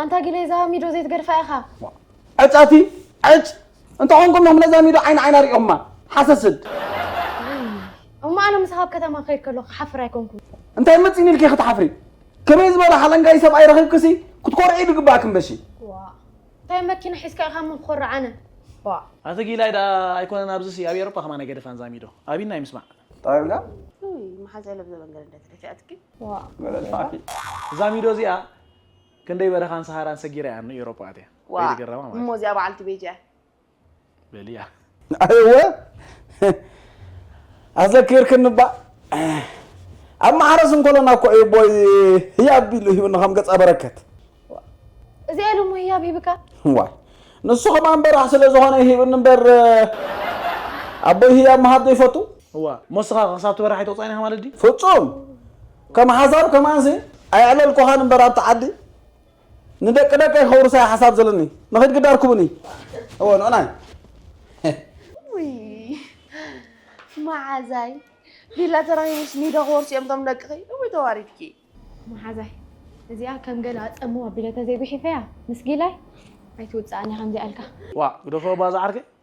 ኣንታ ጊሌዛ ሚዶ ዘይትገድፋ ኢኻ። ዕጸቲ ዕጭ እንተኾንኩም ዮም ነዛ ሚዶ ዓይኒ ዓይና ሪኦማ ሓሰስድ። እሞ ኣነ ምሳኻ ኣብ ከተማ ክኸይድ ከለኹ ክሓፍር ኣይኮንኩን። እንታይ መጺኒ ኢልኪ ክትሓፍሪ ከመይ ዝበለ ሓለንጋይ ሰብኣይ ረኺብክሲ ክትኮርዒ ድግበኣክን በሺ። ዋእ እንታይ መኪና ሒዝካ ኢኻ እሞ ክኾርዕ ኣነ ዋእ። ኣቲ ጊላይ ደኣ ኣይኮነን ኣብዚሲ ኣብ ኤሮፓ ከማን ኣይገደፋን እዛ ሚዶ ኣብይና እዩ ምስማዕ። ታይ ኢልካ? ኡይ መሓዛይ ለብዘበን ገረደት ደፊኣትኪ። ዋእ። እዛ ሚዶ እዚኣ ክንደይ በረኻን ሰሃራን ሰጊረ እያ ንኤውሮጳ ኣትያ። ዋእ ከይተገረማ ማለት እሞ እዩ። እዚኣ በዓልቲ ቤት እያ። በልያ። ኣየወ ኣዘኪርክኒ ባእ ኣብ ማሕረስ እንከሎና እኮ እዩ ቦይ ህያብ ኢሉ ሂብኒ ከም ገጸ በረከት ዋእ እዚኣ ኢሉ እሞ ህያብ ሂብካ። ዋይ ንሱ ከማን በራሕ ስለ ዝኾነ ሂብኒ እምበር ኣቦይ ህያብ ምሃብ ዘይፈቱ እዋ እሞ እስኻ ክሳብ ትበርሕ ኣይተቑጻዕን ኢኻ ማለት ድዩ? ፍጹም ከም ሓሳብ ከማንሲ ኣየዕለልኩኻን እምበር ኣብቲ ዓዲ ንደቂ ደቀይ ከውርሳ እየ ሓሳብ ዘለኒ ንኺድ ግዳ ርክቡኒ እወ ንዑናይ መዓዛይ ቢላ ተረኺቡስ ኒዶ ክወርሱ እዮም እቶም ደቅኺ እውይ ተዋሪድኪ መሓዛይ እዚኣ ከም ገለ ኣጸምዋ ቢለ ተዘይጉሒፈያ ምስ ጊላይ ኣይትውጽኣኒ ከምዚኣ ኢልካ ዋዕ ግደፎ ባዛ ዓርከይ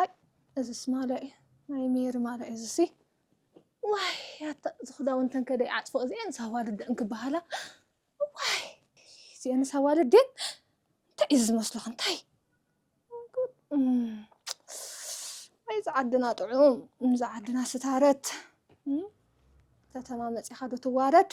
ኣይ እዝስ ማልያ እዩ ናይ ሜሪ ማልያ እዩ እዝሲ ዋይ ኣታ እዚ ክዳውንተን ከ ደይዓፅፎ እዚኤንስ ኣዋልድ ደን ክበሃላ ዋይ እዚኤንስ ኣዋልድ ድየን እንታይ እዩ ዝመስለኹ እንታይ ኣይ እዚ ዓድና ጥዑም እዚ ዓድና ስታረት ከተማ መፂኻ ዶ ትዋረድ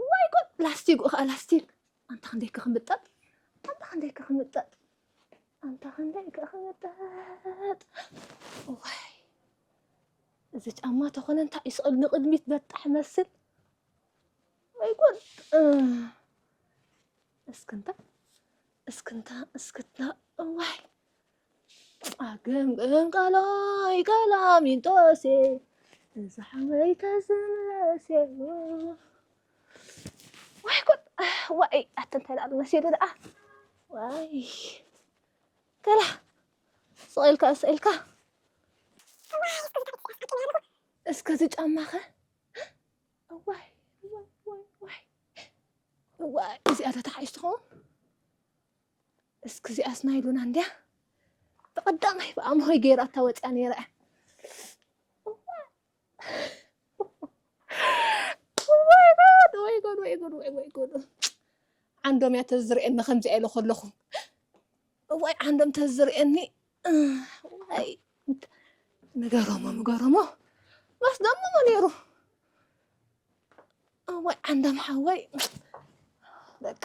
እዋይ ጉድ ላስቲጉ ከኣ ላስቲግ ኣንታ ክንደይ ከ ክምጠጥ ኣንታ ክንደይ ከ ክምጠጥ ኣንታ ክንደይ ከ ክምጠጥ እዋይ እዚ ጫማ ተኾነ እንታይ እዩ ስቕል ንቕድሚት በጣሕ መስል ወይ ጉድ እስክንታ እስክንታ እስክታ እዋይ ኣገምግም ቃላይ ቀላሚንጦሴ እዛ ሓወይ ተዝምለሴ ዋይ ጉድ ዋይ ኣቲ እንታይ ደኣ መሲሉ ደኣ ዋይ ገላ ስቕ ኢልካ እስ ኢልካ እስከ እዚ ጫማኸ ዋይ ዋይ ዋይ ዋይ እዚኣ ተተሓይሽ ትኸውን እስኪ እዚኣስ ናይ ሉና እንድያ ተቐዳማይ ብኣምሆይ ገይራታ ወፅያ ነይራ እያ ወይ ጎድ ወይ ጎድ ወይ ወይ ጎድ ዓንዶም እያ ተዝርእየኒ ከምዚኣ ኢለ ከለኹ እዋይ ዓንዶም ተዝርእየኒ ዋይ ንገረሞ ንገረሞ ማስ ደምሞ ነይሩ እዋይ ዓንዶም ሓወይ በቃ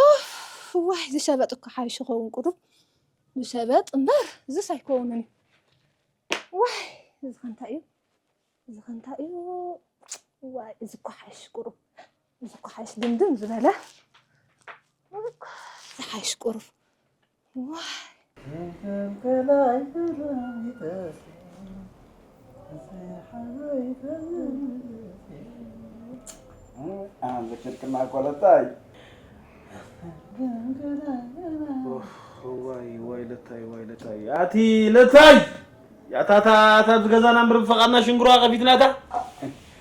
ኡፍ ዋይ ዝሸበጥ እኮ ሓይሽ ኸውን ቁሩብ ዝሸበጥ እምበር እዚስ ኣይከውንን እዩ ዋይ እዚ ከንታይ እዩ እዚ ከንታይ እዩ ዋይ እዚ እኮ ሓይሽ ቁሩብ እዚ እኮ ሓይሽ ድምድም ዝበለ እዚ እኮ እዚ ሓይሽ ቁሩብ ዋይ ዋይ ለታይ ዋይ ለታይ ኣቲ ለታይ ያታ እታ እታ ኣብዚ ገዛና እምብር ብፈቃድና ሽንግሮኣ ከፊትና እታ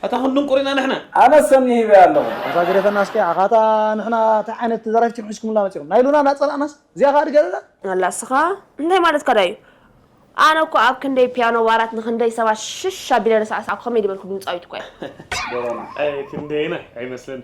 ኣታ ክንድንቁር ኢና ንሕና። ኣነስ ሰኒ ሂበያ ኣለኹ። ኣታ ግደፈና እስከ ኣኻ ኣታ ንሕና ታይ ዓይነት ዘራፊት ኢኹም ሒዝኩምልና መጺኹም ናይ ሉና እናጸላእናስ እዚኣ ከኣ ድገደዳ። ኣላ እስኻ እንታይ ማለትካ ዳዩ ኣነ እኮ ኣብ ክንደይ ፒያኖ ባራት ንክንደይ ሰባት ሽሽ ኣቢለ ንሳዕሳዕኩ ከመይ ድበልኩ ድምጻዊት እኮ እየ። ዶሮና ኣይ ክንደየናይ ኣይመስለንን።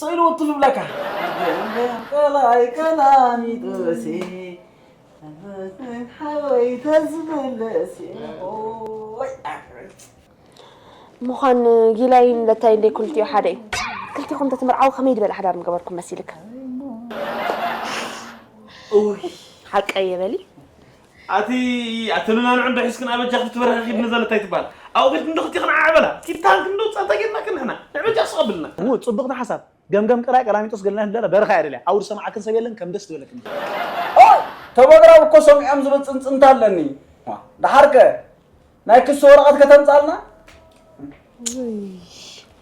ጸሎት ልብለካ ቀላይ ቀላሚጦሴ ሓወይ ተዝምለሴ ኦይ ምዃን ጊላይን ለታይ እንደ ኩልቲኡ ሓደ እዩ ክልቲኹም እንተትምርዓው ከመይ ዝበለ ሓዳር ምገበርኩም መሲልክ እውይ ሓቀየ በሊ ኣቲ ኣቲ ንናንዑ እንዶ ሒዝክን ኣበጃ ክፍቲ ትበርኺ ኪድ ንዘለ እንታይ ትባሃል ኣብኡ ኪድክን እንዶ ክልቲክን ዓዕ በላ ኪድ ታንክ እንዶ ጸታ ጌርናክን ንሕና ንዕበጃ ስቅ ኣብልና። እው ጽብቅቲ ሓሳብ ገምገም ቅራይ ቀላሚጦስ ገለናይ ንደለ በረኻ እያ ደልያ ኣውድ ሰማዓክን ሰብ የለን ከም ደስ ድበለክን ድምጺ። ኦይ ተበግራብ እኮ ሰሚዖም ዝብል ጽንጽንታ ኣለኒ ዳሓር ከ ናይ ክሲ ወረቀት ከተምጻልና። ውይ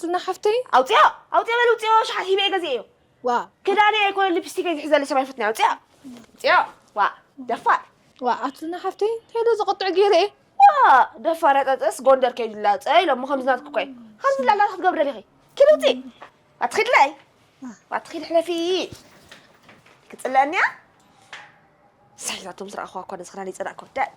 ዝና ሓፍተይ ኣውፅኦ ኣውፅኦ በል ውፅኦ ሸሓት ሂበ ገዚኤዮ ዋ ክዳነይ ኣይኮነ ሊፕስቲከይ ዝሕዘለ ሰብ ኣይፈትናዮ ውፅኦ ውፅኦ ዋ ደፋር ዋ ኣቲ ዝና ሓፍተይ እንታይ ዶ ዘቐጥዕ ገይረ እየ ዋ ደፋር ያጠጥስ ጎንደር ከይዱላ ፀ ኢሎሞ ከምዚ ናትኩ እኳ እዩ ከምዚ ላላ ክትገብር ደሊኺ ኪድ ውፂ ኣትኺድለይ ኣትኺድ ሕለፊ ክፅለአኒያ ሳይ ናቶም ዝረኣኹዋ እኳ ነዚ ክዳን ይፀላእ ክወዳድ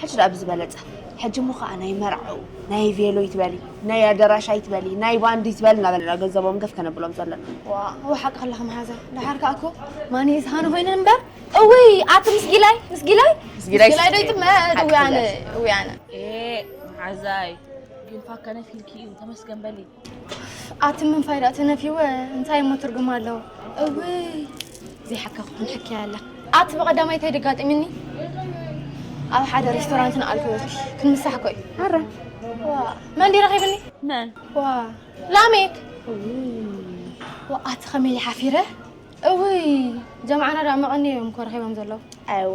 ሕጂ ደኣ ብዝበለጸ ሕጂ እሞ ከኣ ናይ መርዓው ናይ ቬሎ ይትበሊ ናይ ኣደራሽ ኣይትበሊ ናይ ባንድ ይትበል እናበለና ገንዘቦም ገፍ ከነብሎም ዘለና ዋው ሓቂ ከለኺ መሓዛ ደሓር ከኣ እኮ ማን ዝሃነ ኮይነ እምበር እውይ ኣቲ ምስጊላይ ምስጊላይ ምስጊላይ ዶ ይጥመ እውይ ኣነ እውይ ኣነ መሓዛይ ግን ፋከነ ፊልኪ እዩ ተመስገን በሊ ኣቲ ምን ፋይዳ ተነፊወ እንታይ እሞ ትርጉም ኣለዎ እውይ ዘይሓካኹ ክንሕክያ ኣላ ኣቲ ብቐዳማይ እንታይ ደጋጢምኒ ኣብ ሓደ ሬስቶራንት ንኣልኮት ክንምሳሕ ኮይ ኣረ ዋ መን ዲ ረኺብኒ መን ዋ ላሜክ ዋ ኣቲ ከመይ ሓፊረ እውይ ጀምዓና ዳ መቐኒ እዮም ኮ ረኺቦም ዘለዉ ኣይወ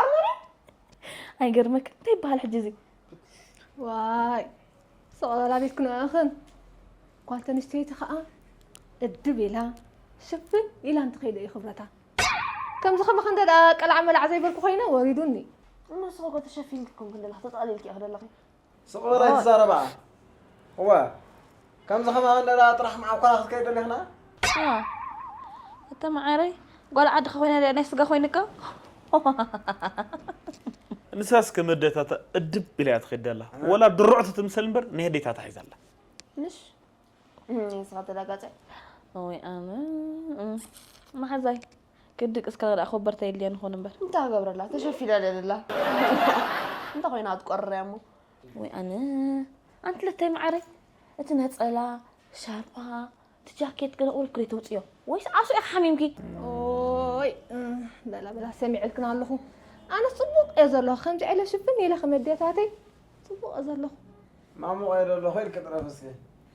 ኣርመርያ ኣይገርመክ እንታይ ይበሃል ሕጂ እዚ ዋይ ሰቐላ ቤት ክንኣኽን ጓል ተንስተይቲ ከዓ እድብ ኢላ ሽፍን ኢላ እንትኸይደ እዩ ክብረታ ከምዚ ከማኸ እንተ ደኣ ቀላዕ መላዕ ዘይበልኩ ኮይነ ወሪዱኒ እነስኸ ተሸፊንክኩም ክንደላ ተጠቕሊልኪ እኽደለኺ ስቕ በል ኣይትዛረባ እወ ከምዚ ከማኺ እንዳ ጥራሕ መዓኮራ ክትከይድ ደሊኽና እተ መዓረይ ጓል ዓድኺ ኮይና ድያ ናይ ስጋ ኮይንካ ንሳስ ከም ኣዴታታ እድብ ኢላ ትኸይድ ኣላ ወላ ድርዕቲ ትምሰል እምበር ናይ ኣዴታታ ሒዛ ኣላ ንሽ ንስኻ ተላጋፀ ወይ ኣነ መሓዛይ ክድቅስ ከለ ደኣ ኮበርታ የድልየን ይኾን እምበር። እንታይ ክገብረላ ተሸፊና ድያ ዘላ እንታይ ኮይና ክትቆርርያ እሞ ወይ ኣነ ኣንቲ ለተይ መዓረይ እቲ ነፀላ ሻርፓ እቲ ጃኬት ገለ ቁሩብ ክደይ ተውፅዮ ወይስ ዓሶ ኢኻ ሓሚምኪ ኦይ በላ በላ ሰሚዐልክን ኣለኹ ኣነስ ፅቡቕ እየ ዘለኹ ከምዚ ዕለ ሽፍን ኢለ ከመድያታተይ ፅቡቕ እየ ዘለኹ ማሙቕ እየ ዘለኹ ኢልኪ ጥረፍ እስኪ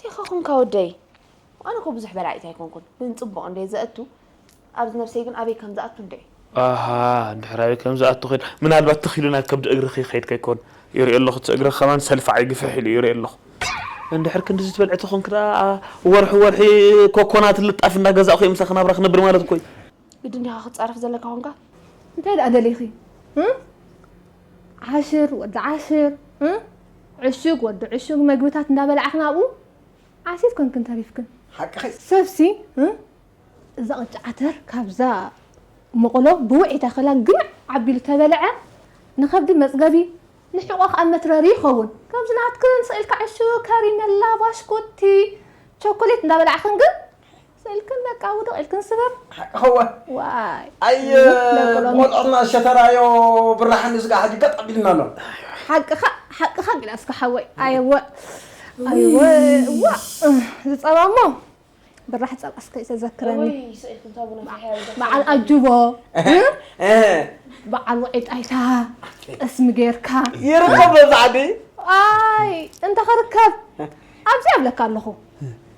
ዲኻ ኮንካ ወደይ? ኣነ እኮ ብዙሕ በላዒት ኣይኮንኩን ግን ጽቡቅ እንድየ ዘእቱ ኣብዚ ነብሰይ ግን ኣበይ ከም ዝኣቱ እንድዒ። ኣሃ ድሕር ኣበይ ከም ዝኣቱ ኪድ ምናልባት ትኽ ኢሉ ናይ ከብዲ እግርኺ ይኸይድ ከይኮን ይሪኦ ኣለኹ እቲ እግርኺ ከማን ሰልፋዓይ ግፍሕ ኢሉ እዩ ይሪኦ ኣለኹ። እንድሕር ክንድዚ ትበልዒ ተኾንኪ ደኣ ወርሒ ወርሒ ኮኮናት ልጣፊ እንዳገዛእኹ እየ ምሳኺ ናብራ ክነብር ማለት እኮ እዩ። ግድ እንዲኻ ክትፃረፍ ዘለካ ኮንካ እንታይ ደኣ ደሊኺ ዓሽር ወዲ ዓሽር ዕሹግ ወዲ ዕሹግ መግብታት እንዳበላዕኽን ኣብኡ ዓሲት ኮንክን ተሪፍክን ሓቅኺ ሰብሲ እዛ ቅጫ ዓተር ካብዛ መቕሎ ብውዒታ ክላን ግምዕ ዓቢሉ ተበልዐ ንኸብዲ መፅገቢ ንሕቖ ከዓ መትረሪ ይኸውን ከምዚ ናትክን ስኢልካ ዕሹግ ከሪመላ ባሽኩቲ ቾኮሌት እንዳበላዕኽን ግን ስእልክን በቃ ውድቕ ኢልክን ስብር ሓቅኸወ ዋይ ኣየ ደቂ ሎሚ ብቆልዕና ሸተራዮ ብራህ ንዝጋ ሕጂ ገጥ ኣቢሉና ኣሎ ሓቅኻ ሓቅኻ ሚናስካ ሓወይ ኣየወ ኣየወ ዋእ እዚ ጸባ እሞ ብራሕ ጸባስ ከይተዘክረኒ እውይ ስእልክን ታቡና ፍሕያ ይደርሰ በዓል ኣጅቦ በዓል ውዒ ጣይታ ጠስሚ ጌርካ ይርከብ መብዛሕቲ ኣይ እንተ ክርከብ ኣብዚ ኣብለካ ኣለኹ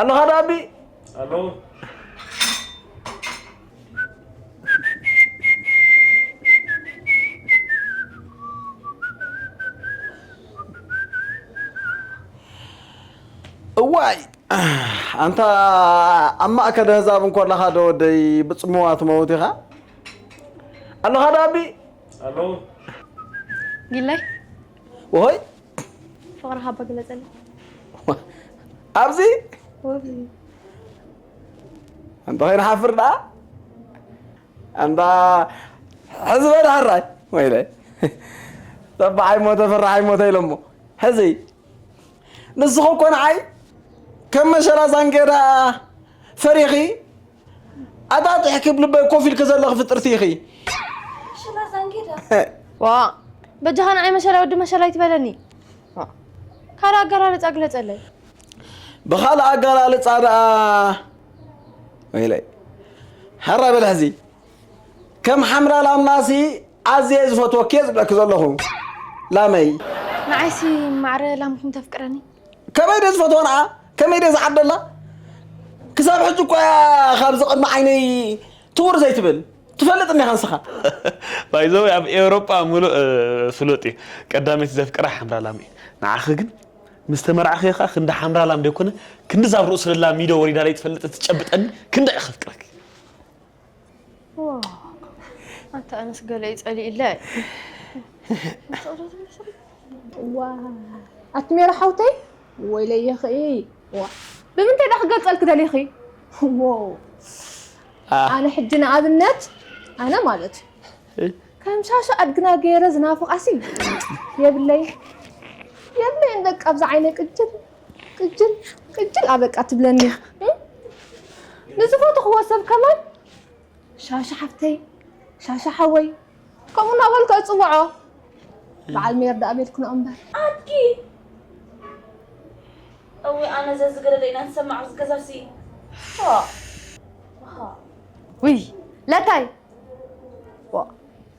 ኣለኻ ዶ ኣቢ ኣለኹ እዋይ ኣንታ ኣብ ማእከል ህዛብ እንኮለኻ ዶ ወደይ ብፅምዋ ትመውት ኢኻ ኣለኻ ዶ ኣቢ ኣለኹ ጊላይ ኦሆይ ፍቕርኻ እባ ግለፀለይ ኣብዚ ወብሊ ኣንተ ከይንሓፍር ደኣ ኣንታ ሕዚ በል ሓራይ ወይለ ተባዓይ ሞተ ፍራሓይ ሞተ ኢሎሞ ሕዚ ንስኹ እኮ ንዓይ ከም መሸላ ዛንጌዳ ፈሪኺ ኣታ ጥሕኪ ብልበይ ኮፍ ኢልኪ ዘለኺ ፍጥርቲ ኢኺ ዋ በጃኻ ንዓይ መሸላ ወዲ መሸላ ኣይትበለኒ ካልእ ኣገላልፃ ግለፀለይ ብኻልእ ኣገላልፃ ደኣ ወይለይ ሕራ በል ሕዚ ከም ሓምራ ላምናሲ ኣዝየ ዝፈትወኪ እየ ዝብለኪ ዘለኹ ላመይ ንዓይሲ ማዕረ ላምኩም ተፍቅረኒ ከመይ ድየ ዝፈትዋ ንዓ ከመይ ድየ ዝዓደላ ክሳብ ሕጂ እኳ እያ ካብዚ ቅድሚ ዓይነይ ትውር ዘይትብል ትፈልጥ እኒኻ ንስኻ ባይዘወይ ኣብ ኤውሮጳ ምሉእ ፍሉጥ እዩ ቀዳመይቲ ዘፍቅራ ሓምራ ላም እዩ ንዓኺ ግን ምስ ተመርዓኺ ኸዓ ክንዲ ሓምራ ላም ደይኮነ ክንዲ ዛብ ርእሱ ለላ ሚዶ ወሪዳ ለይትፈልጥ እትጨብጠኒ ክንደይ እየ ከፍቅረኪ ኣታ ኣነስ ገለ እዩ ፀሊእለ ዋ ኣቲ ሜሮ ሓውተይ ወይለየኺ ዋ ብምንታይ ዳ ክገልፀልኪ ደሊኺ ዎ ኣነ ሕጂ ንኣብነት ኣነ ማለት እዩ ከም ሻሻ ኣድግና ገይረ ዝናፍቓሲ የብለይ የብለይን በቃ ኣብዚ ዓይነ ቅጅል ቅጅል ቅጅል ኣበቃ ትብለኒ ንዝፈተኽዎ ሰብ ከማን ሻሻ ሓፍተይ ሻሻ ሓወይ ከምኡ እናበልኩ እፅውዖ በዓል ሜር ዳኣ ቤትክኖ እምበር ኣድጊ እወ ኣነ ዘዝገደደ ኢና ንሰማዕ ኣብዚ ገዛ ሲ ውይ ለታይ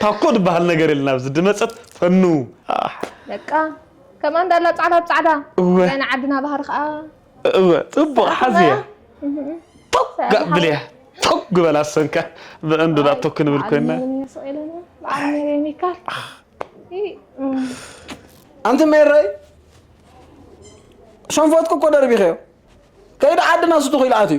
ታኮ ድበሃል ነገር የለን ኣብዚ ድመጸት ፈኑ ኣሕ በቃ ከምኣ እንዳላ ጻዕዳ ብጻዕዳ እወ። እዚኣ ናይ ዓድና ባህሪ ከዓ እወ ጽቡቕ ሓዝያ ቶግ ጋእ ብልያ ቶግ በላ ሰንካ ብዕንዱ ዳ ቶግ ክንብል ኮይና ኣንቲ ሜረይ ሸንፎትኩ እኮ ደርቢኸዮ ከይዲ ዓድና ስቱኹ ኢሉ ኣትዩ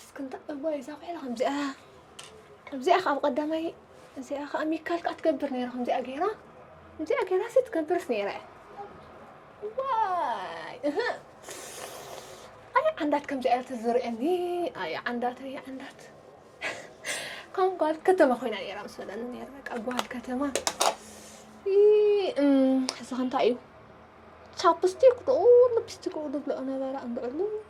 እስኪ እንታይ እዋይ እዛ ቆልዓ ከምዚኣ ከምዚኣ ከዓ ኣብ ቀዳማይ እዚኣ ከዓ ሚካል ከዓ ትገብር ነይራ ከምዚኣ ገይራ ከምዚኣ ገይራ ሲ ትገብርስ ነይራ ዋይ እህ ኣይ ዓንዳት ከምዚኣ እያ ትዝርእየኒ ኣይ ዓንዳት ኣይ ዓንዳት ከም ጓል ከተማ ኮይና ነይራ ምስ በለኒ ነይረ በቃ ጓል ከተማ እዚ ከ እንታይ እዩ ቻፕስቲክ ዶ ልፕስቲክ ዶ ዝብልኦ ነበረ እንድዕሉ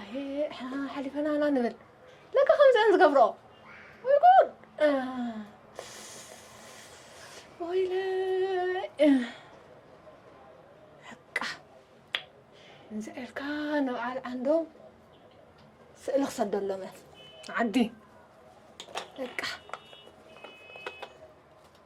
ኣየ ንሕና ሓሊፈና ኢና ንብል ለካ ከምዚ እየን ዝገብርኦ ወይ ጉድ ወይለይ በቃ እንዚ ኢልካ ንበዓል ዓንዶም ስእሊ ክሰደሎም እየ ዓዲ በቃ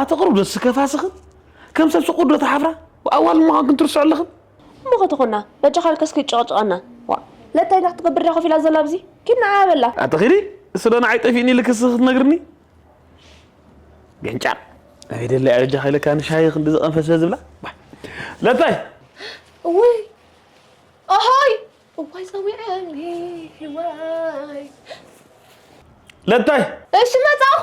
ኣቲ ቅሩብ ዶ ትስከፋስኽን ከም ሰብ ስቁር ዶ ትሓፍራ ኣዋል ምዃንክን ትርስዑ ኣለኽን እሞ ከተኾና በጃኻ ልከስ ክይጨቐጨቐና ዋ ለታይ እንታይ ክትገብር ድያ ኮፍ ኢላ ዘላ ኣብዚ ኪድ ንዓያ በላ ኣቲ ኺዲ እሱ ዶ ንዓይ ጠፊእኒ ልክስ ክትነግርኒ ገንጫር ኣበይ ደለያ በጃኻ ኢለካ ንሻሂ ክንዲ ዝቐንፈ ስለ ዝብላ ዋ፣ ለታይ እውይ ኣሃይ እዋይ ፀዊዐኒ ዋይ ለታይ እሺ መፃኹ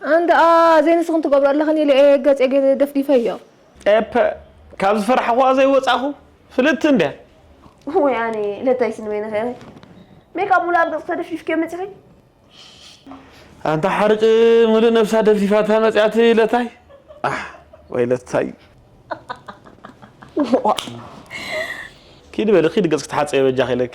ኣንድኣ ዘይ ንስኽን ትገብሮ ኣለኽን ኢለ እየ ገጼ ገይረ ደፍዲፈዮ። ኤፐ ካብ ዝፈራሕኹዋ ዘይወጻኹ ፍልጥቲ እንድያ። ወይ ኣነ ለታይ ስንበይንኺ ኢኺ ሜካፕ ሙሉእ ኣብ ገጽኪ ተደፍዲፍክዮ መጺኺ። ኣንታ ሓርጭ ምሉእ ነብሳ ደፍዲፋታ መጽያ እቲ ለታይ ኣሕ ወይ ለታይ። ኪዲ በሊ ኪዲ ገጽኪ ተሓጸቢ በጃኺ ኢለኪ።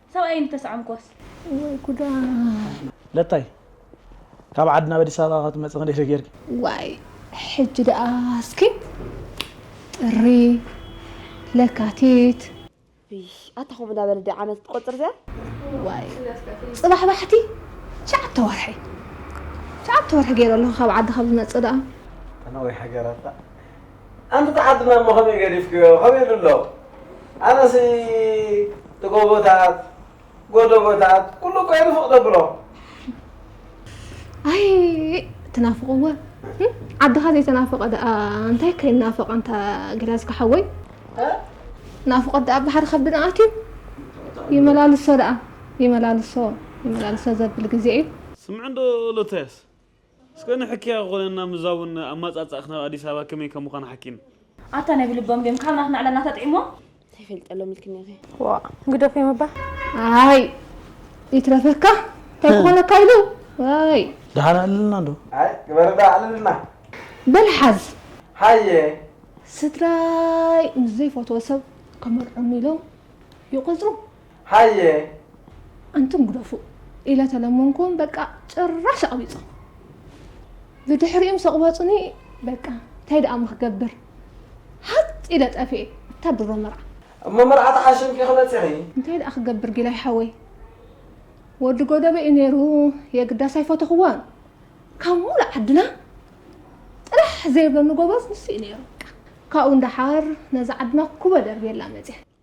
ሰብኣየይ እንተሰዓምክዎስ? ወይ ጉዳይ! ለታይ ካብ ዓዲ ናብ ኣዲስ ኣበባ ካብ ትመፂ ክንደይ ሰጊርኪ? ዋይ ሕጂ ደኣ እስኪ ጥሪ፣ ለካቲት፣ እሽ ኣታ ከምኡ እንዳበለ ድዩ ዓመት ትቆፅር እዚኣ? ዋይ ፅባሕ ባሕቲ ትሽዓተ ወርሒ ትሽዓተ ወርሒ ገይረ ኣለኹ ካብ ዓዲ ካብ ዝመፅእ ደኣ። ተናዊሓ ገይራታ ኣንቲ እቲ ዓዲ ማማ ከመይ ገዲፍክዮ ከመይ ኢሉ ኣሎ ኣነሲ እቲ ጎቦታት ጎደቦታት ኩሉ እኮ ይንፍቅ ተብሎ ኣይ ትናፍቕዎ ዓድኻ ዘይተናፈቐ ደኣ እንታይ ከይናፈቕ ኣንታ ገላዝካ ሓወይ ናፍቆት ደኣ ብሓደ ከብድና ኣትዩ ይመላልሶ ደኣ ይመላልሶ ይመላልሶ ዘብል ግዜ እዩ ስምዕ እንዶ ሎተስ እስከ ንሕክያ ክኾነና ምዛውን ኣማጻጽኣክ ናብ ኣዲስ ኣበባ ከመይ ከም ምዃን ሓኪን። ኣታ ናይ ብልቦም ድዮም ካብ ናትና ዕላልና ተጥዒሞም። እንታይ ፈልጠሎም ኢልክኒ ኢኺ። ዋእ ግደፍዮ ምባል ኣይ ይትረፈካ እንታይ ክኾነካ ኢሉ ዋይ ደሓን ኣዕልልና ዶ ኣይ ግበርዳ ኣዕልልና በል ሓዝ ሃየ ስድራይ ምስ ዘይፈትዎ ሰብ ከመርዖኒ ኢሎም ይቆጽሩ ሃየ ኣንቱም ግደፉ ኢለ ተለመንኩም በቃ ጭራሽ ኣቕቢጾም ብድሕሪኦም ሰቕበጹኒ በቃ እንታይ ደኣ ምክገብር ሃጥ ኢለ ጠፍኤ እታ ድሮ መርዓ እሞ መርዓ ተሓሽምኪ ክመጺኺ እንታይ ደኣ ክገብር ጊላይ ሓወይ ወዲ ጎደበ እዩ ነይሩ የግዳስ ኣይፈተኽዎን ካብ ሙሉ ዓድና ጥራሕ ዘይብለኒ ጎበዝ ንሱ እዩ ነይሩ ካብኡ እንዳሓር ነዚ ዓድና ኩበ ደርብየላ መፅያ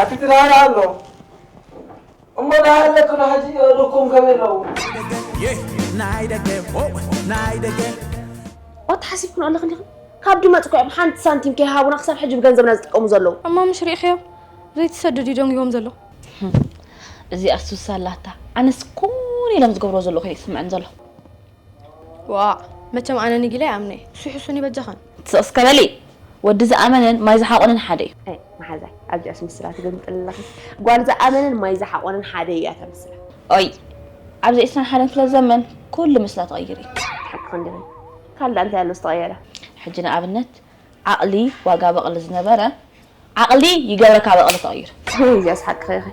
ኣቲ ድራር ኣሎ እሞ ዳሃለክሎ ሕጂ የእዱኩም ከመይ ኣለዉ። ዋት ሓሲብክኖ ኣለኽን ኢኽን ካብ ድመጽ ኮዮም ሓንቲ ሳንቲም ከይሃቡና ክሳብ ሕጂ ብገንዘብና ዝጥቀሙ ዘለዉ። እሞ ምሽ ሪኢኽዮ ዘይትሰድድ እዩ ደንጊዎም ዘሎ። እዚኣስ ሱስ ኣላታ ኣነስ ኩሉ ኢሎም ዝገብርዎ ዘለዉ ከይስምዐን ዘሎ። ዋእ መቸም ኣነ ንጊለ ይኣምነ እዩ እሱ ይሕሱኒ በጃኽን። ስቕ እስከ በሊ ወዲ ዝኣመነን ማይ ዝሓቆነን ሓደ እዩ። ኣይ መሓዛይ ኣብዚኣ ኣስምስላ ትግምጥል ኣለኺ ጓል ዝኣመነን ማይ ዝሓቆነን ሓደ እያ ተምስላ። ኦይ ኣብዚ ዕስራን ሓደን ክፍለ ዘመን ኩሉ ምስላ ትቕይሪ። ሓቅኽን ድኺ ካልእ እንታይ ኣሎ ዝተቐየረ። ሕጂ ንኣብነት ዓቕሊ ዋጋ በቕሊ ዝነበረ ዓቕሊ ይገብረካ በቕሊ ተቐይሩ። ከመይ እዚኣ ስሓቅኺ ኢኺ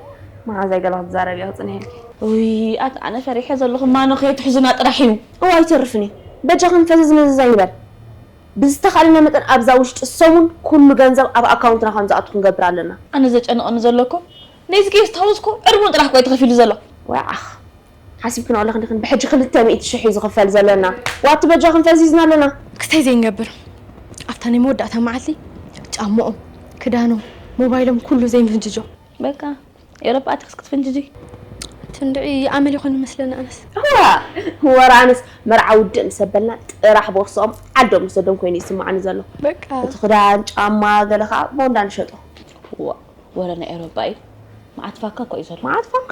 መዓዛይ ገለ ክትዛረቢ እየ ክጽንሔልኪ። ኡይ ኣታ ኣነ ፈሪሐ ዘለኹ ማኖ ከየትሕዙና ጥራሕ እዩ። እው ኣይተርፍን እዩ በጃኽን ፈዘዝ መዘዝ ኣይንበል ብዝተኻእለና መጠን ኣብዛ ውሽጢ ሰሙን ኩሉ ገንዘብ ኣብ ኣካውንትና ከም ዝኣቱ ክንገብር ኣለና። ኣነ ዘጨንቐኒ ዘሎ እኮ ኔዝጌ ስታውስኮ ዕድሙን ጥራሕ እኮ እዩ ተኸፊሉ ዘሎ። ዋይ ዓኽ ሓሲብክንኦ ኣለኺ ድኽን ብሕጂ ክልተ ሚእቲ ሽሕ እዩ ዝኽፈል ዘሎና ዋቲ በጃኽን ፈዚዝና ኣለና። ክታይ ዘይንገብር ኣብታ ናይ መወዳእታ መዓልቲ ጫምኦም ክዳኖም ሞባይሎም ኩሉ ዘይንፍንጅጆ። በቃ ኤሮፓ ኣቲክስ ክትፍንጅጂ ትንድዒ ይኣመል ይኾን ይመስለኒ ኣነስ። እዋ ወረ ኣነስ መርዓ ውድእ ምስ ኣበልና ጥራሕ ቦርስኦም ዓዶም ምስ ወዶም ኮይኑ እዩ ዝስመዓኒ ዘሎ በቃ። እቲ ክዳን ጫማ ገለ ከኣ ቦንዳ ንሸጦ። እዋእ ወረ ናይ ኤሮፓ እዩ መዓት ፋካ እኮ እዩ ዘሎ። መዓት ፋካ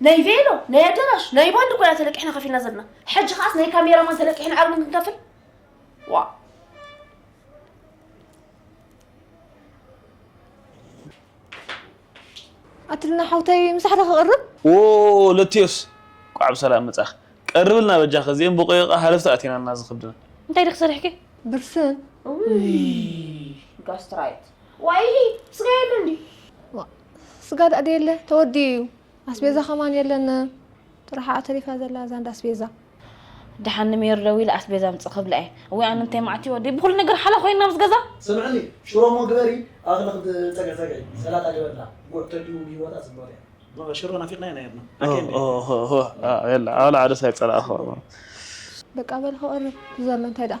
ናይ ቬሎ ናይ ኣዳራሽ ናይ ባንድ እኮ ኢና ተለቂሕና ከፊልና ዘለና ሕጂ ከዓስ ናይ ካሜራማን ተለቂሕና ዓብሉ ክንከፍል ዋ ኣትልና ሓውተይ ምሳሕታ ክቕርብ ዎ ለትዮስ ቋዕ ብሰላም መጻኽ ቀርብልና በጃ ከዚኦም ብቆየቃ ሃለፍቲ ኣቲናና ዝኽብድና እንታይ ዲኽ ሰሪሕኪ ብርስን ጋስትራይት ዋይ ስጋ የለ እንዲ ስጋ ዳኣ ደየለ ተወዲኡ እዩ ኣስቤዛ ከማን የለን ጥራሓ እያ ተሪፋ ዘላ እዛ እንዳ ኣስቤዛ ድሓን ንሜሪ ደዊለ ኣስቤዛ ኣምጽእ ክብላ እየ እወ ኣነ እንታይ መዓት ይወዲ ብኩሉ ነገር ሓላ ኮይና ምስ ገዛ ስምዕኒ ሽሮ እሞ ግበሪ ኣክሊ ክትጸግዒ ጸግዒ ሰላጣ ግበርላ ጉዕ ተድዩ ንሂወታ ጽብቅቲ እያ በቃ ሽሮ ናፊቅናያ ነይርና ኣኬ የላ ኣላ ዓደስ ኣይጸላእኹ በቃ በል ክቕርብ ዘሎ እንታይ ደኣ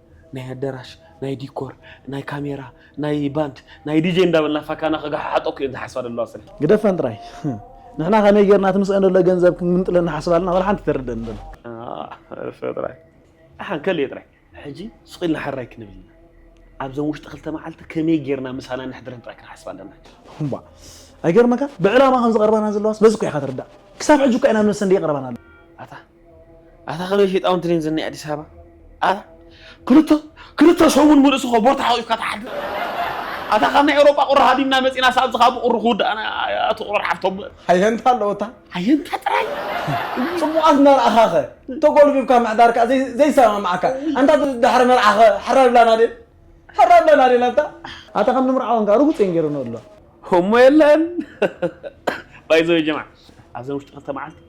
ናይ ኣደራሽ ናይ ዲኮር ናይ ካሜራ ናይ ባንድ ናይ ዲጀ እንዳበልና ፋካና ከጋሓሓጦ እኮ እየን ዝሓስባ ዘለዋ ስርሒ ግደፈን ጥራይ ንሕና ከመይ ጌርና እቲ ምስአን ዘሎ ገንዘብ ክንምንጥለን ንሓስብ ኣለና ወላ ሓንቲ ተርደን ዘሎ እሰ ጥራይ ኣሓን ከልየ ጥራይ ሕጂ ሱቕ ኢልና ሓራይ ክንብል ኢና ኣብዘን ውሽጢ ክልተ መዓልቲ ከመይ ጌርና ምሳና ነሕድረን ጥራይ ክንሓስብ ኣለና እምባ ኣይገርመካን ብዕላማ ከም ዝቐርባና ዘለዋስ በዚ እኮ ኢኻ ትርዳእ ክሳብ ሕጂ እኳ ኢና ነብሰን ደይቀረባና ኣሎ ኣታ ኣታ ከመይ ሸይጣውን ትሪን ዝናይ ኣዲስ ኣበባ ኣታ ክልተ ክልተ ሰሙን ምሉእስ እኮ ቦታ ሓቂፍካ ትሓድር ኣታ ካብ ናይ ኤውሮጳ ቁሪ ሃዲምና መጺና ሳብዚ ካብ ቁሪ ክውዳእና ኣቲ ቁሪ ሓፍቶም ሓየንታ ኣለወታ ሓየንታ ጥራይ ጽቡቃት እናርኣኻ ከ ተጎልቢብካ ምሕዳር ከ ዘይሰማማዓካ ኣንታ ድሕሪ መርዓ ከ ሕራይ ብላና ድን ሕራይ ብላና ድን ኣንታ ኣታ ከም ንምርዓወን ከ ርጉጽ እየን ገይረን ኣሎ እሞ የለን ባይዘው ጀማዓ ኣብዘን ውሽጢ ክልተ መዓልቲ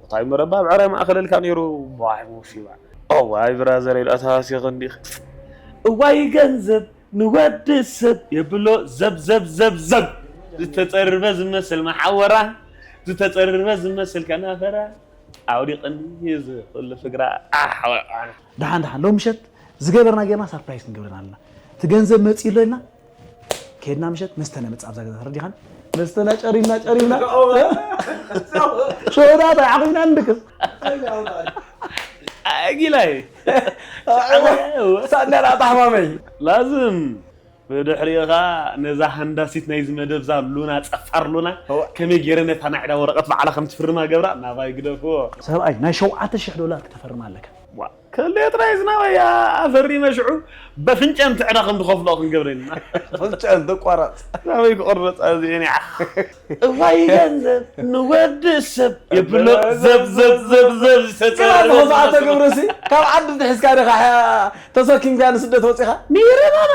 ቦታይ መረባ ኣብ ዕራይ ማእከለልካ ነይሩ ዋይ ሞሲባ። እዋይ ብራዘረይ ድኣ ተሃሲኺ እንዲኺ። እዋይ ገንዘብ ንወዲ ሰብ የብሎ ዘብዘብዘብዘብ ዝተጸርበ ዝመስል መሓውራ ዝተጸርበ ዝመስል ከናፍራ ኣውዲቕኒ እዚ ኩሉ ፍግራ ኣሕ። ደሓን ደሓን ሎሚ ምሸት ዝገበርና ጌርና ሳርፕራይዝ ክንገብረን ኣለና እቲ ገንዘብ መጺኡ ኣሎ ኢልና ከድና ምሸት መስተና መፅእ ኣብዛ ገዛ ተረዲኻን መስተና ጨሪምና ጨሪምና ሸውዳት ዓቂብና ንድቅስ ጊላይ ሳእናና ኣታሕማመይ ላዝም ብድሕሪኻ ነዛ ሃንዳሲት ናይዚ መደብ ዛ ሉና ፀፋር ሉና ከመይ ገይረ ነታ ናይ ዕዳ ወረቐት ባዕላ ከም ትፍርማ ገብራ ናባይ ግደፍዎ ሰብኣይ ናይ ሸውዓተ ሽሕ ዶላር ክተፈርማ ኣለካ ከሌ ጥራይ ዝናበያ ኣፈሪመ ሽዑ በፍንጨን ትዕረ ከም ዝኸፍሎ ክንገብረን ኢና። ኣፍንጨኣን ተቋራጽ። ናበይ ክቕረጻ እዚኤን ያዕ። እዋይ ገንዘብ ንወዲ ሰብ የብሎ ዘብዘብዘብዘብ ዝተጸረበ ግና እኮ ዝመስሎ። ኣቶ ገብረሲ ካብ ዓዲ እንተ ሒዝካ ዲኻ ተሰኪምካያ ንስደት ወጺኻ? ንይረማማ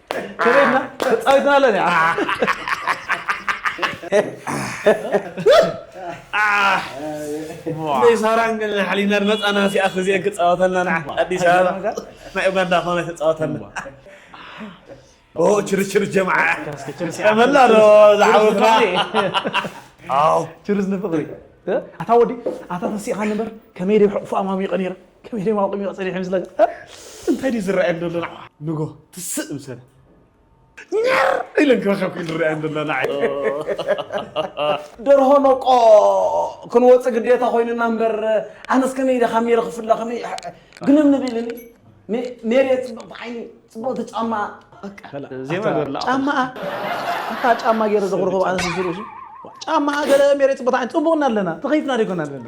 ተበይትና ተፃዊትና ኣለና ናይ ሳራን ግን ሓሊና መፃና ሲኣ ክዚአን ክፃወተልና ንዓ ኣዲስ ኣበባ ናይ ኡጋንዳ ኮነ ተፃወተልና ኦ ችርችር ጀምዓ መላ ዶ ዝዓወትና ኣው ችርስ ንፍቕሪ ኣታ ወዲ ኣታ ተሲእኻ ነበር ከመይ ደ ሕቑፉ ኣማሚቐ ነይረ ከመይ ደማ ቁሚቕ ጸኒሐ ምስለ እንታይ ድዩ ዝረኣየን ዘሎ ናዕ ንጎ ትስእ ምስለ ኛር ኢለን ክረኸብክ ዝረኣየን ዘሎ ናዕ ደርሆ ነቆ ክንወፅእ ግዴታ ኮይንና እምበር ኣነስ ከመይ ኢለ ካብ ሜሪ ክፍለ ከመይ ግንም ንብልኒ ሜሪ ፅብቕቲ ዓይኒ ፅብቕቲ ጫማ ዜማ ገርላ ጫማኣ ኣታ ጫማ ገይረ ዘቕርቦ ኣነ ስዝርእሱ ጫማኣ ገለ ሜሬት ቦታ ዓይን ፅቡቕና ኣለና ተኸይፍና ደይኮና ኣለና